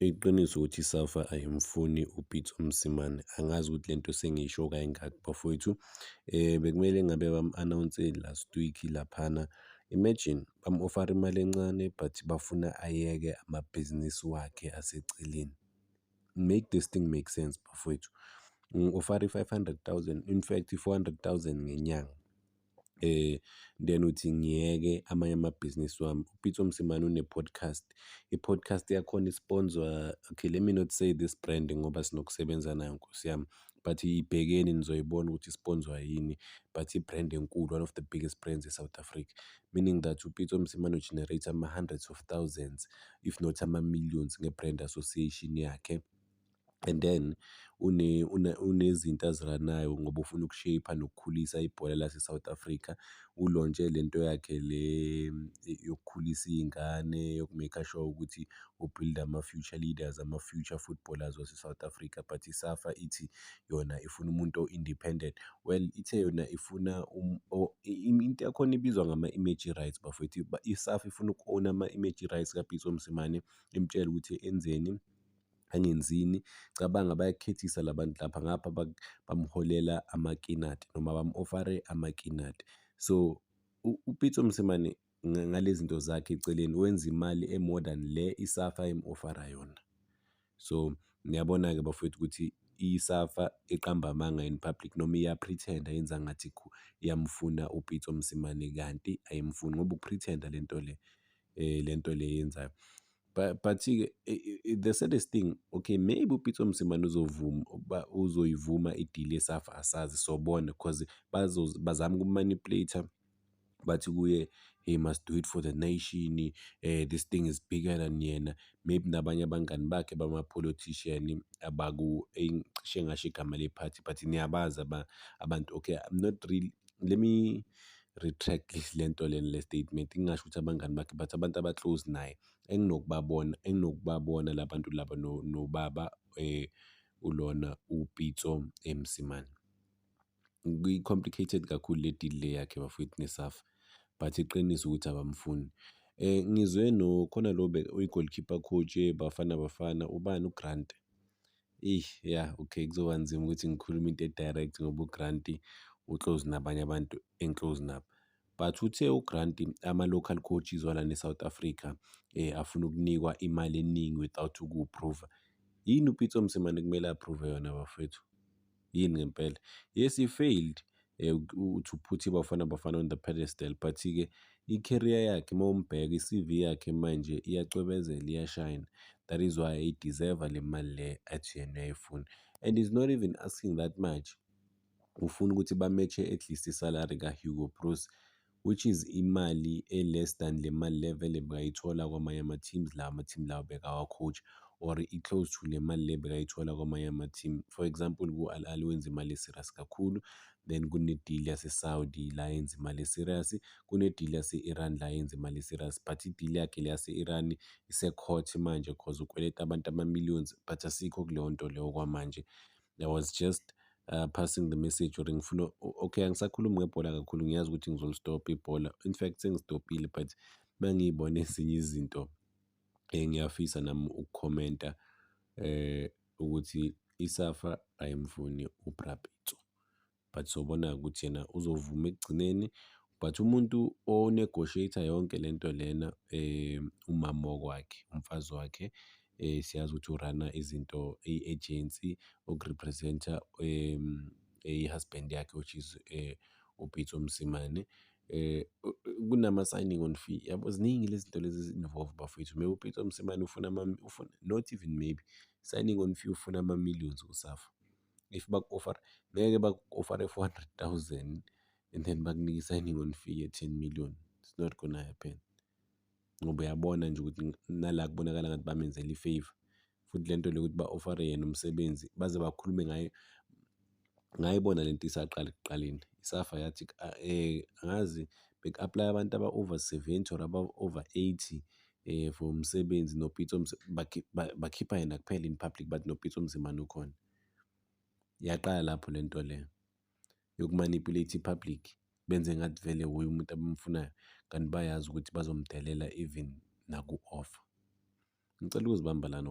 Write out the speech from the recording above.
Iqiniso ukuthi iSafa ayimfuni uPitso Mosimane. Angazi ukuthi le nto sengiyisho kayingaki bafowethu. Um bekumele ngabe bamu-anawunseli last week laphana. Imagine bamu-ofara imali encane but bafuna ayeke amabhizinisi wakhe aseceleni. Make this thing make sense bafowethu. Ngi-ofara i-five hundred thousand, in fact i-four hundred thousand ngenyanga. Eh then uthi ngiyeke amanye amabhizinisi wami. UPitso Mosimane une-podcast. I-podcast yakhona isponzwa okay let me not say this brand ngoba sinokusebenza nayo nkosi yami but ibhekeni nizoyibona ukuthi isponzwa yini but i-brand enkulu one of the biggest brands e-South Africa meaning that uPitso Mosimane ugenerate ama-hundreds of thousands if not ama-millions nge-brand association yakhe. and then unezinto azi-run-nayo ngoba ufuna uku-shape-a nokukhulisa ibhola lase-South Africa. Ulontshe le nto yakhe le yokukhulisa iy'ngane yoku-make-a sure ukuthi u-build-a ama-future leaders, ama-future footballers wase-South Africa but iSafa ithi yona ifuna umuntu o-independent. Well, ithe yona ifuna into yakhona ibizwa ngama-image rights bafwethu. ISafa ifuna uku-own-a ama-image rights kaPitso Mosimane imtshele ukuthi enzeni angenzini cabanga bayakhethisa labantu lapha ngapha bamholela amakinati noma bamu-ofare amakinati so upitso msimane ngale zinto zakhe eceleni wenza imali e-more than le isafa emu-ofara yona so niyabona-ke bafowethu ukuthi isafa iqamba amanga in public noma iyapretenda yenza ngathi iyamfuna upitso msimane kanti ayimfuni ngoba ukupretenda le nto le eh, le nto le yenzayo but but-ke the saddest thing okay maybe upitso msimane uzovuma uba uzoyivuma idili yesafa asazi sobona because bazama ukumanipulate bathi kuye he must do it for the nation eh this thing is bigger than yena maybe nabanye abangani bakhe bama-politician abaku engisho ngasho igama le-party but niyabazi abantu okay i'm not really let me retract le nto lena le statement ngingasho ukuthi abangani bakhe but abantu aba-close naye enginokubabona enginokubabona la bantu laba nobaba um ulona upitso emsimane kwi-complicated kakhulu le deal le yakhe bafowethu nesafa but iqiniso ukuthi abamfuni Eh ngizwe no khona lo be uyi-goalkeeper coach eBafana Bafana ubani uGrant. Eyi ya okay kuzoba nzima ukuthi ngikhulume into e-direct ngoba u-Grant u-close nabanye abantu engi-close nabo. But uthe u-Grant ama-local coaches walana e-South Africa afuna ukunikwa imali eningi without uku-prove-a. Yini uPitso Mosimane ekumele a-prove-e yona bafwethu? yini ngempela yes he failed eh, to put ibafana bafana on the pedestal but ke i-career yakhe uma umbheka i-cv yakhe manje iyacwebezela iyashine that is why eyideserve le mali le athi yena uyayifuna and is not even asking that much ufuna ukuthi bametshe at least isalary kahugo bruce which is imali e-less than le mali le vele bekayithola kwamanye ama-teams lawa ama-team lawa bekawa-coach or i-close to le mali le bekayithola kwamanye ama-team. For example, ku-Al Ahly wenza imali e-serious kakhulu, then kune-deal yase-Saudi la yenza imali e-serious, kune-deal yase-Iran la yenza imali e-serious but i-deal yakhe le yase-Iran ise-court manje cause ukweleta abantu ama-millions but asikho kuleyo nto leyo okwamanje. I was just uh, passing the message or ngifuna okay angisakhulumi ngebhola kakhulu ngiyazi ukuthi ngizolistopha ibhola in fact sengistopile but mangiyibona ezinye izinto engiyafisa nami ukukhomenta eh ukuthi isafa ayimfuni ubrabitso but sobona-ke ukuthi yena uzovuma ekugcineni but umuntu o-negotiate-a yonke le nto lena um umama wakwakhe umfazi wakhe um siyazi ukuthi urana izinto i-agency okurepresent-a um i-husband yakhe which is um eh, upitso msimane eh kunama-signing on fee yabo ziningi lezi zinto lezi zi-involve bafowethu maybe upeter msimane ufuna ufuna not even maybe signing on fee ufuna ama-millions kusafa if baku-offer ngeke baku-offer four hundred thousand and then bakunike i-signing on fee ye-ten million it's not gonna happen ngoba uyabona nje ukuthi nala kubonakala ngathi bamenzela i-favour futhi le nto le ukuthi ba-ofare yena umsebenzi baze bakhulume ngayo ngayibona le nto isaqala ekuqaleni isafa yathi um angazi beku-aplaya abantu aba-over seventy or aba-over eighty for umsebenzi noPitso bakhipha yena kuphela in public but noPitso Mosimane ukhona. Yaqala lapho le nto le yokumanipulate i-public benze ngathi vele wuye umuntu abamfunayo kanti bayazi ukuthi bazomdelela even naku-offer. Ngicela ukuzibamba lana.